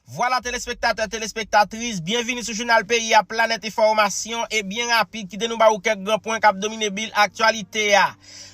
Vwala telespektatè, telespektatris, byenvini sou jounal peyi a, planèt enfòmasyon, e byen rapid kite nou ba ou kèk gran pwen kap domine bil aktyalite a.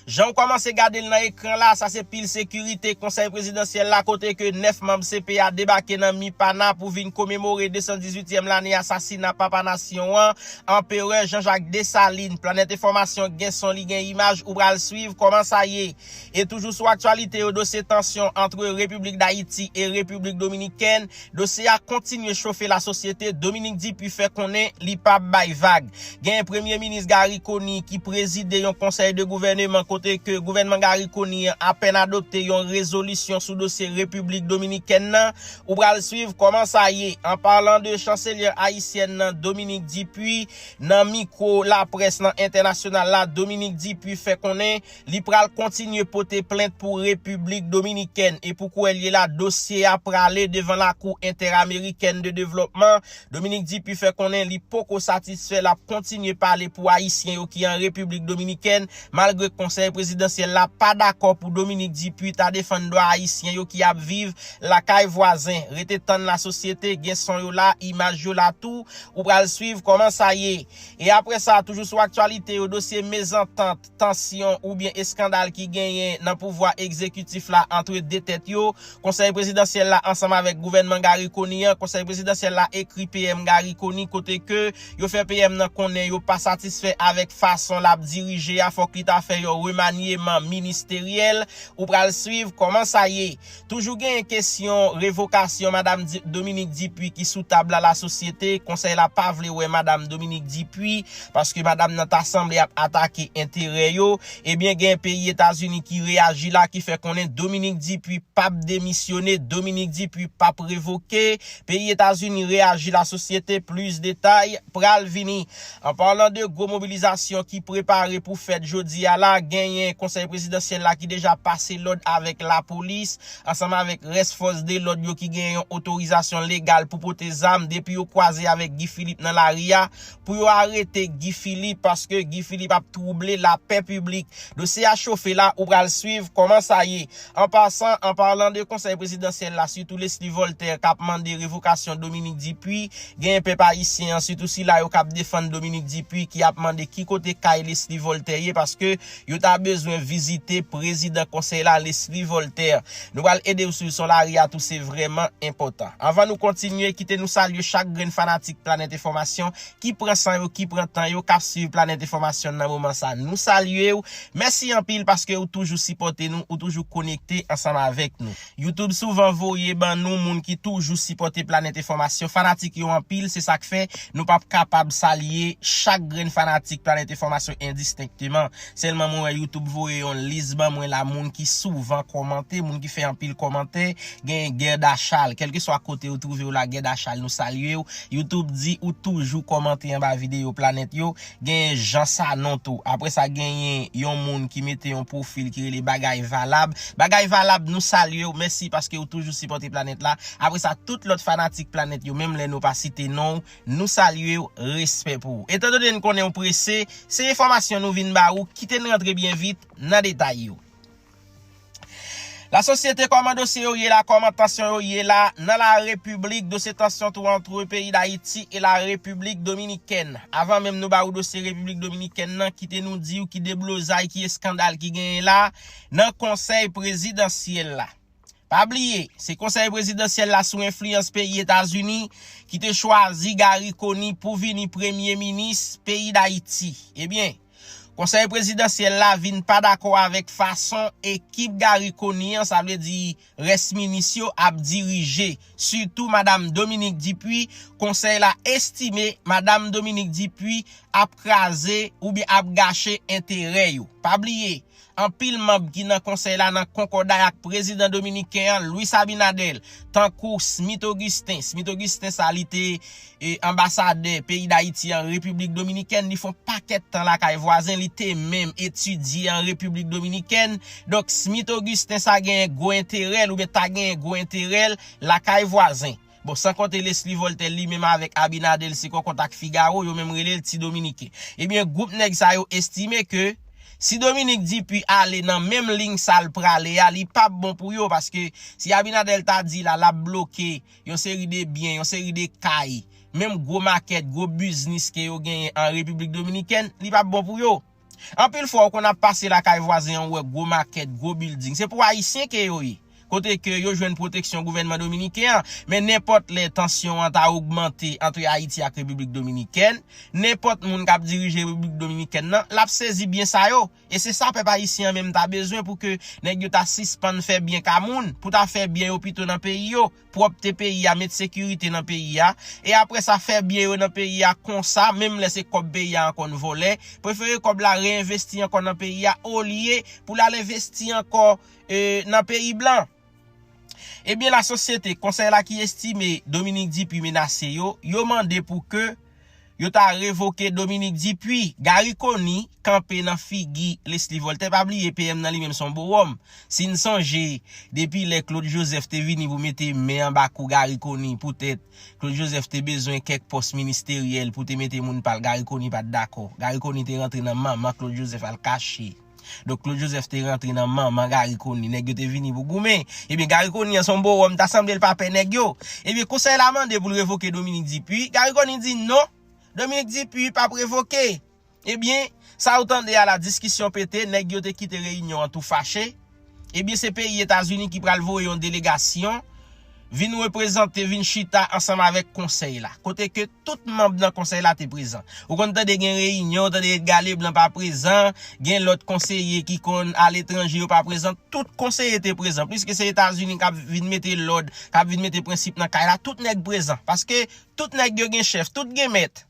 Jan ou kòmanse gade l nan ekran la, sa se pil sekirite konsèy prezidansyèl la kote ke 9 manb CP a debake nan Mipana pou vin komemore 218 tièm lane asasina papa nasyon an, anperè Jean Jacques Dessalines. Planèt enfòmasyon gen son li gen imaj ou pral swiv kòman sa ye. E toujou sou aktyalite yo, dosye tansyon antre Repiblik Dayiti e Repiblik Dominikèn, dosye a kontinye chofe lasosyete, Dominique Dupuy fè konnen li pap bay vag. Genyen Premye Minis Garry Conille ki prezide yon konsèy de gouvèneman kote ke gouvènman Garry Conille an apèn adopte yon rezolisyon sou dosye Repiblik Dominikèn nan, ou pral swiv kòman sa ye an palan de chanselyè ayisyèn nan Dominique Dupuy nan mikwo laprès nan entènasyonal la, Dominique Dupuy fè konnen. Li pral kontinye pote plent pou Repiblik Dominikèn e pou kou el ye la dosye a prale devan Lakou Entèramerikèn de Devlòpman. Dominique Dupuy fè konnen li poko satisfè l ap kontinye pale pou Ayisyen yo ki an Repiblik Dominikèn malgre Konsèy Prezidansyèl la pa dakò pou Dominique Dupuy ta defann dwa Ayisyen yo ki ap viv lakay vwazen. Rete tann la sosyete, gen son yo la, imaj yo la tou, ou pral swiv kòman sa ye. E apre sa, toujou sou aktyalite yo, dosye mezantant. tansyon oubyen eskandal ki genyen nan pouvwa egzekitif la antre 2 tèt yo, Konsèy Prezidansyèl la ansanm avèk gouvènman Garry Conille an, Konsèy Prezidansyèl la ekri PM Garry Conille kote ke yo fè PM nan konnen yo pa satisfè avèk fason lap dirije a fòk li ta fè yon remanyeman ministeryèl, ou pral swiv kòman sa ye. Toujou genyen kesyon revokasyon madam Dominique Dupuy ki sou tab la lasosyete konsèy la pa vle wè madam Dominique Dupuy paske madam nan ta sanble ap atake enterè yo ebyen gen peyi etazini ki reyaji la ki fè konnen Dominique Dupuy pap demisyone Dominique Dupuy pap revoke peyi etazini reyaji lasosyete plis detay pral vini. An parlan de gwo mobilizasyon ki prepare pou fèt jodi a la, genyen konsèy prezidansyèl la ki deja pase lòd avèk lapolis, ansanm avèk rès fòs de lòd yo ki genyen yon otorizasyon legal pou pote zam depi yo kwaze avèk Guy Philippe nan lari a, pou yo arete Guy Philippe paske Guy Philippe ap twouble lapè piblik. Dosye a chofe la, ou pral swiv kòman sa ye. An pasan, an palan de Konsèy Prezidansyèl la, sitou Leslie Voltaire k ap mande revokasyon Dominique Dupuy, genyen pèp ayisyen an, sitou sila yo k ap defann Dominique Dupuy ki ap mande ki kote kay Leslie Voltaire ye paske yo ta bezwen vizite Prezidan Konsèy la Leslie Voltaire. Nou pral ede ou swiv son lari a tou se vrèman enpòtan. Anvan nou kontinye, kite nou salye chak grenn fanatik Planèt Enfòmasyon ki pran san yo, ki pran tan yo, kap swiv Planet Enfomasyon nan moman sa nou salye ou, mèsi anpil paske ou toujou sipòte nou, ou toujou konekte ansanm avèk nou. Youtube souvan voye ban nou moun ki toujou sipòte Planet Enfomasyon, fanatik yo anpil se sak fè nou pap kapab salye chak grenn fanatik Planet Enfomasyon endistenkteman. Selman mwen wè YouTube voye yon lis ban mwen la moun ki souvan komante, moun ki fè anpil komante, genyen Guerda Charles, kelkeswa kote ou trouve w la Guerda Charles nou salye w, YouTube di ou toujou komante anba videyo Planèt yo, genyen Jean Sanon tou, apre sa genyen yon moun ki mete yon pwofil ki rele Bagay Valab, Bagay Valab nou salye w, mèsi paske ou toujou sipòte Planèt la, apre sa tout lòt fanatik Planèt yo menm lè nou pa site non w, Nou salye w, respè pou ou. Etan done n konnen ou prese, se enfòmasyon nou vin ba ou, kite n rantre byen vit nan detay yo. La sosyete kòman dosye yo ye la, kòman tansyon yo ye la nan la repiblik, dosye tansyon tou antre peyi Dayiti e la repiblik Dominikèn. Avan menm nou ba ou dosye repiblik Dominikèn nan, kite nou di ou ki deblozay, ki eskandal ki genyen la nan konsèy prezidansyèl la. Pa bliye, se Konsèy Prezidansyèl la sou enfliyans peyi Etazini ki te chwazi Garry Conille pou vini Premye Minis peyi Dayiti. Ebyen, Konsèy Prezidansyèl la vin pa dakò avèk fason ekip Garry Conille an, sa vle di rès minis yo, ap dirije, sitou Madam Dominique Dupuy, Konsèy la estime Madam Dominique Dupuy ap kraze oubyen ap gache enterè yo. Pa bliye, Anpil manb ki nan konsèy la nan konkòday ak prezidan dominiken an, Luis Abinader, tankou Smith Augustin, Smith Augustin sa li te anbasadè peyi Dayiti an Repiblik Dominikèn, li fon pakèt tan lakay vwazen, li te menm etidye an Repiblik Dominikèn, donk Smith Augustin sa genyen gwo enterè l oubyen ta genyen gwo enterè l lakay vwazen. Bon, san konte Lesly Voltè li menm avèk Abinader l se kò kont ak Figaro, yo menm rele l Ti Dominique. Ebyen, gwoup nèg sa yo estime ke si Dominique Dupuy ale nan menm liy sa l prale a, li pap bon pou yo paske si Abinader l ta di la l ap bloke yon seri de byen, yon seri de kay, menm gwo makèt, gwo biznis ke yo genyen an Repiblik Dominikèn, li pap bon pou yo. Anpil fwa ou konn ap pase lakay vwazen an ou wè gwo makèt, gwo bilding. Se pou Ayisyen ke yo ye. Kote ke yo jwenn pwoteksyon gouvènman Dominiken an. Men nenpòt lè tansyon an ta ogmante antre Ayiti ak Repiblik Dominikèn, nenpòt moun k ap dirije Repiblik Dominikèn nan, l ap sezi byen sa yo. E se sa pèp Ayisyen an menm ta bezwen pou ke nèg yo ta sispann fè byen ka moun, pou ta fè byen yo pito nan peyi yo. pwòpte peyi a, met sekirite nan peyi a, e apre sa fè byen yo nan peyi a konsa, menm lè se kòb peyi a ankò n vòlè, prefere kòb la reenvesti ankò nan peyi a olye pou l al envesti ankò nan peyi blan. Ebyen lasosyete, konsèy la ki estime Dominique Dupuy menase yo, yo mande pou ke. Yo ta revoke Dominique Dupuy. Garry Conille kanpe nan figi Leslie Voltaire. Pa bliye PM nan li menm son bowòm. Si n sonje depi lè Claude Joseph te vini pou mete men anba kou Garry Conille poutèt Claude Joseph te bezwen kèk pòs ministeryèl pou te mete moun pa l Garry Conille pa t dakò. Garry Conille te rantre nan manman Claude Joseph al kache. Donk Claude Joseph te rantre nan manman Garry Conille, nèg yo te vini pou goumen. Ebyen Garry Conille an son bowòm, ta sanble l pa pè nèg yo. Ebyen konsèy la mande pou l revoke Dominique Dupuy, Garry Conille di non, Dominique Dupuy pa p revoke. Ebyen, sa ou tande a la diskisyon pete, nèg yo te kite reyinyon an tou fache. Ebyen se peyi Etazini ki pral voye yon delegasyon vin reprezante, vin chita ansanm avèk konsèy la. Kote ke tout manb nan konsèy la te prezan. Ou konn tande gen reyinyon, ou tande Edgar Leblanc pa prezan, gen lòt konseye ki konn al etranje yo pa prezan, tout konseye te prezan. Piske se Etazini kap vin mete lòd, kap vin mete prensip nan kay la, tout nèg prezan. Paske tout nèg yo gen chèf, tout gen mèt.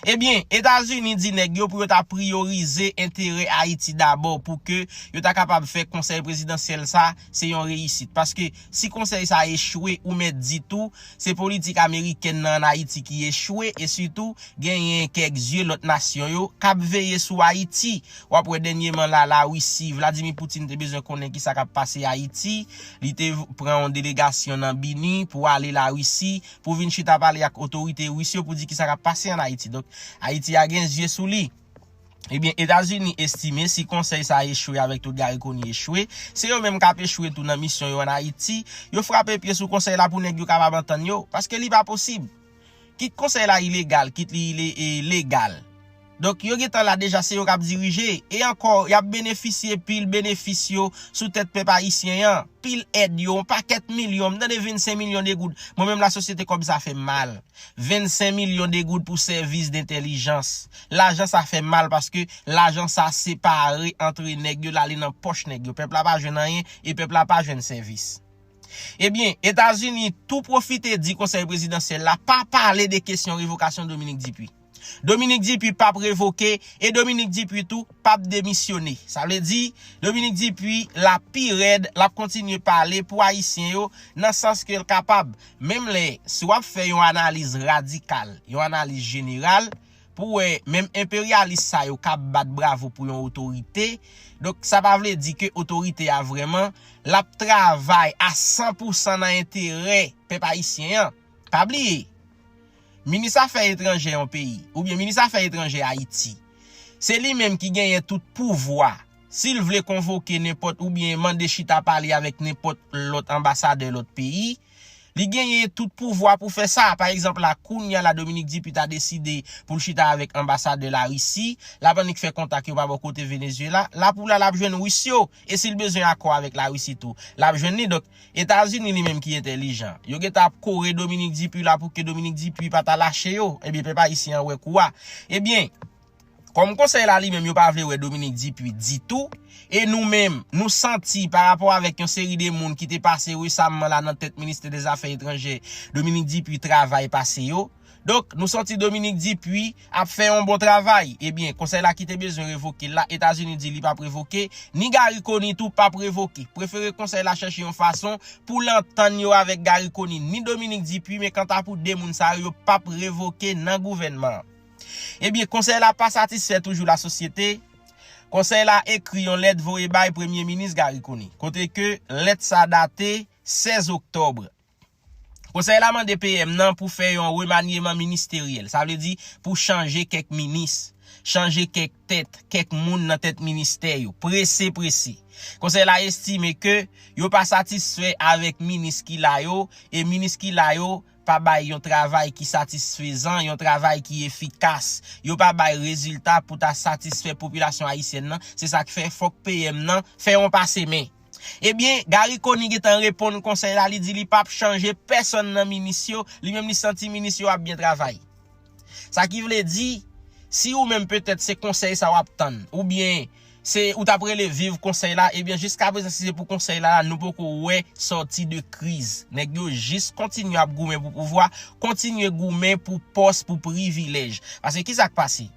Ebyen, Etazini di nèg yo pou yo ta priyorize enterè Ayiti dabò pou ke yo ta kapab fè konsèy prezidansyèl sa se yon reyisit. Paske si konsèy sa echwe ou mèt di tou se politik amerikèn nan an Ayiti ki echwe e sitou genyen kèk zye lòt nasyon yo k ap veye sou Ayiti. W ap wè dènyeman la Larisi, Vladimir Poutine te bezwen konnen kisa k ap pase Ayiti, li te pran yon delegasyon nan BINUH pou ale Larisi pou vin chita pale ak otorite Ris yo pou di kisa kap pase an Ayiti. Donk, Ayiti a gen zye sou li. Ebyen, Etazini estime si konsèy sa echwe avèk tout Garry Conille echwe, se yo menm kap echwe tou nan misyon yo an Ayiti. Yo frape pye sou konsèy la pou nèg yo kapab antann yo. Paske li pa posib. Kit konsèy la ilegal, kit li legal. Donk yo gentan la deja se yo kap dirije, e ankò yap benefisye pil benefis yo sou tèt pèp ayisyen an, pil èd yo, yon pakèt milyon, m tande 25 milyon de goud, mwen menm la sosyete kòb sa fèm mal, 25 milyon de goud pou sèvis dentèlijans, lajan sa fèm mal paske lajan sa separe antre nèg yo lale nan pòch nèg yo, pèp la pa jwenn anyen e pèp la pa jwenn sèvis. Ebyen, Etazini tou pwofite di konsèy prezidansyèl la pa pale de kesyon revokasyon Dominik Dipi. Dominique Dupuy pap revoke e Dominique Dupuy tou pap demisyone. Sa vle di, Dominique Dupuy la pi rèd, l ap kontinye pale pou Ayisyen yo nan sans ke l kapab. Menm lè, si w ap fè yon analiz radikal, yon analiz jeneral, pou wè menm enperyalis sa yo kab bat bravo pou yon otorite, donk sa pa vle di ke otorite a vrèman, l ap travay a san pou san nan enterè pèp ayisyen an. Pa bliye! Minis afè etranjè yon peyi, oubyen minis afè etranjè Ayiti, se li menm ki genyen tout pouvwa, si l vle konvoke nenpòt oubyen mande chita pale avèk nenpòt lòt anbasadè lòt peyi, li genyen tout pouvwa pou fè sa. Pa egzanp la, kounya la Dominique Dupuy ta deside pou l chita avèk anbasadè Larisi, l ap annik fè kontak yo pa bò kote Venezyela, la pou la l ap jwenn Ris yo, e si l bezwen akò avèk Larisi tou, l ap jwenn li. Etazini li menm ki entèlijan. Yo gen tan ap kore Dominique Dupuy la pou ke Dominique Dupuy pa ta lache yo. Ebyen pèp ayisyen an wè kou a. Ebyen, kòm konsèy la li menm yo pa vle wè Dominique Dupuy ditou, e nou menm, nou santi pa rapò avèk yon seri de moun ki te pase resamman la nan tèt ministè dè zafè etranjè, Dominique Dupuy travay pase yo. Donk, nou santi Dominique Dupuy ap fè yon bon travay. Ebyen, konsèy la ki te bezwen revoke l la, Etazini di li pap revoke, ni Garry Conille tou pap revoke. Prefere konsèy la chèche yon fason pou l antann yo avèk Garry Conille ni Dominique Dupuy men kanta pou 2 moun sa yo, yo pap revoke nan gouvènman an. Ebyen, konsèy la pa satisfè toujou lasosyete, konsèy la ekri yon lèt voye bay Premye Minis Garry Conille. Kote ke lèt sa date 16 oktòbre. Konsèy la mande PM nan pou fè yon remanyeman ministeryèl, sa vle di pou chanje kèk minis, chanje kèk tèt, kèk moun nan tèt ministè yo, prese prese. Konsèy la estime ke yo pa satisfè avèk minis ki la yo e minis ki la yo pa bay yon travay ki satisfezan, yon travay ki efikas, yo pa bay rezilta pou ta satisfè popilasyon ayisyèn nan, se sa k fè fòk PM nan fè yon pase men. Ebyen, Garry Conille gentan reponn konsèy la, li di li pap chanje pèsonn nan minis yo, li menm li santi minis yo ap byen travay. Sa ki vle di, si ou menm petèt se konsèy sa wap tann, oubyen se ou tap rele viv konsèy la, ebyen jiska prezan si se pou konsèy la la nou poko wè sòti de kriz. Nèg yo jis kontinye ap goumen pou pouvwa, kontinye goumen pou pòs, pou privilèj. Pase kisa k pase?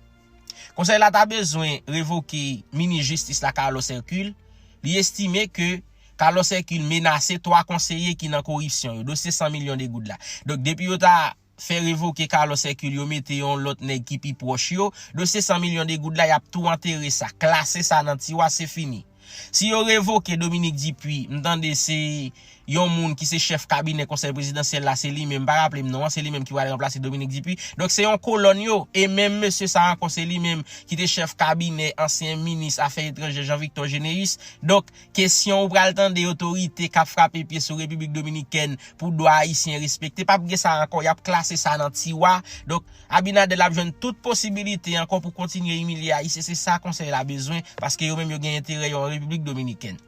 Konsèy la ta bezwen revoke minis jistis la Carlos Hercule, li estime ke Carlos Hercule menase 3 konseye ki nan koripsyon yo, dosye 100 milyon de goud la. Donk depi yo ta fè revoke Carlos Hercule yo mete yon lòt nèg ki pi pwòch yo, dosye 100 milyon de goud la yap tou antere sa, klase sa nan tiwa se fini. Si yo revoke Dominique Dupuy, m tande se yon moun ki se chèf kabinè konsèy prezidansyèl la, se li menm, m pa raple m non an, se li menm ki pral ranplase Dominique Dupuy. Donk se yon kolòn yo, e menm mesye sa ankò se li menm ki te chèf kabinè ansyen minis afè etranjè Jean Victor Généus. Donk kesyon ou pral tande otorite k ap frape pye sou Repiblik Dominikèn pou dwa Ayisyen respekte, p ap gen sa ankò, y ap klase sa nan tiwa. Donk. Abinadel ap jwenn tout posibilite ankò pou kontinye imilye ayisyen se sa konsèy la bezwen paske yo menm yo gen enterè yo an repiblik dominikèn.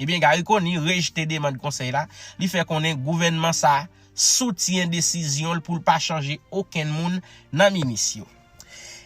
Ebyen Garry Conille rejte demand konsèy la, li fè konnen gouvènman sa soutyen desizyon l pou l pa chanje okenn moun nan minis yo.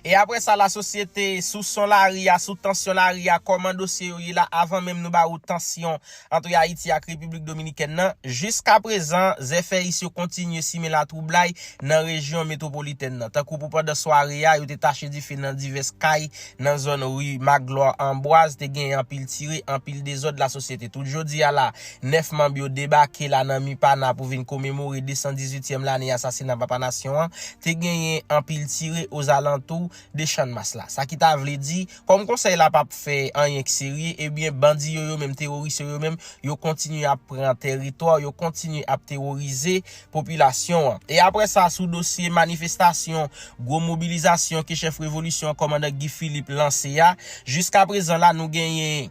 E aprè sa lasosyete sou son lari a, sou tansyon lari a, kòman dosye yo ye la avan menm nou ba ou tansyon antre Ayiti ak Repiblik Dominikèn nan, jiskaprezan, zèfèyis yo kontinye simen latwoublay nan rejyon metwopolitèn nan, tankou pou pandan sware a, yo te tache dife nan divès kay nan zòn ri Magloire Ambroise, te genyen anpil tire, anpil dezòd lasosyete. Tout jodi a la, 9 manb yo debake la nan Mipana pou vin komemore 218 tyèm lane asasina Papa Nasyon an, te genyen anpil tire ozalantou de Channmas la. Sa ki ta vle di, kòm konsèy la pap fè anyen ki serye, ebyen bandi yo yo menm, teworis yo yo menm, yo kontinye ap pran teritwa, yo kontinye ap teworize popilasyon an. E apre sa, sou dosye manifestasyon, gwo mobilizasyon ke chèf revolisyon an, kòmandan Guy Philippe lanse a, jiskaprezan la nou genyen.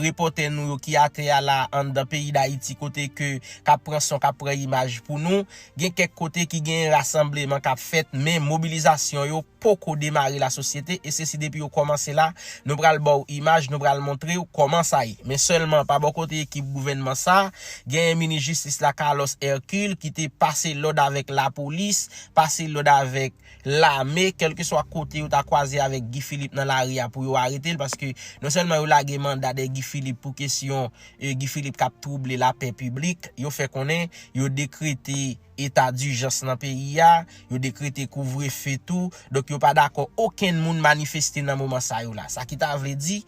repòtè nou yo ki atè a la anndan peyi Dayiti kote ke kap pran son kap pran imaj pou nou. Gen kèk kote ki gen rasanbleman kap fèt men mobilizasyon yo poko demare la sosyete e se si depi yo kòmanse la nou pral baw imaj nou pral montrew kòman sa ye. Men sèlman pa bò kote ekip gouvènman sa genyen minis jistis la Carlos Hercule ki te pase lòd avèk lapolis pase lòd avèk lame kelkeswa kote yo ta kwaze avèk Guy Philippe nan lari a pou yo aretel paske non sèlman yo lage manda dè Guy Philippe pou kesyon Guy Philippe kap twouble lapè piblik yo fè konnen yo dekrete eta dijans nan peyi a yo dekrete kouvre fe tou donk yo pa dakò okenn moun manifeste nan moman sa yo la sa ki ta vle di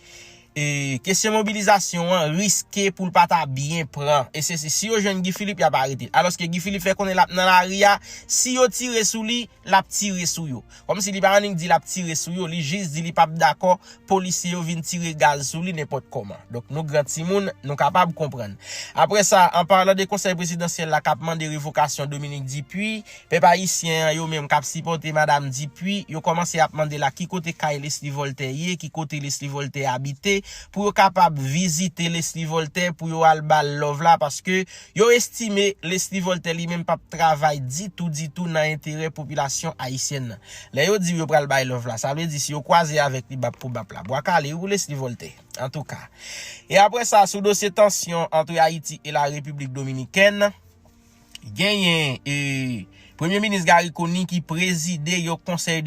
E kesyon mobilizasyon an riske pou l pa ta byen pran. E se si yo jwenn Guy Philippe y ap arete l. Alòske Guy Philippe fè konnen l ap nan lari a, si yo tire sou li, l ap tire sou yo. Kòmsi li pa annik di l ap tire sou yo, li jis di li p ap dakò polisye yo vin tire gaz sou li nenpòt kòman. Donk nou gran timoun, nou kapab konprann. Apre sa, an parlan de konsèy prezidansyèl la k ap mande revokasyon Dominique Dupuy, Pèp ayisyen an yo menm kap sipòte madam Dupuy yo kòmanse ap mande la ki kote kay Lesly Voltè ye ki kote Lesly Voltè abite pou yo kapab vizite Lesly Voltè pou yo al bal love la paske yo estime Lesly Voltè li menm pap travay ditou ditou nan enterè popilasyon ayisyèn nan lè yo diw yo pral bay love la sa vle di si yo kwaze avèk li bap pou bap la bwa kale wi pou Lesly Voltè antouka e aprè sa sou dosye tansyon antre Ayiti e la Repiblik Dominikèn. Genyen Premye Minis Garry Conille ki prezide yon konsèy de.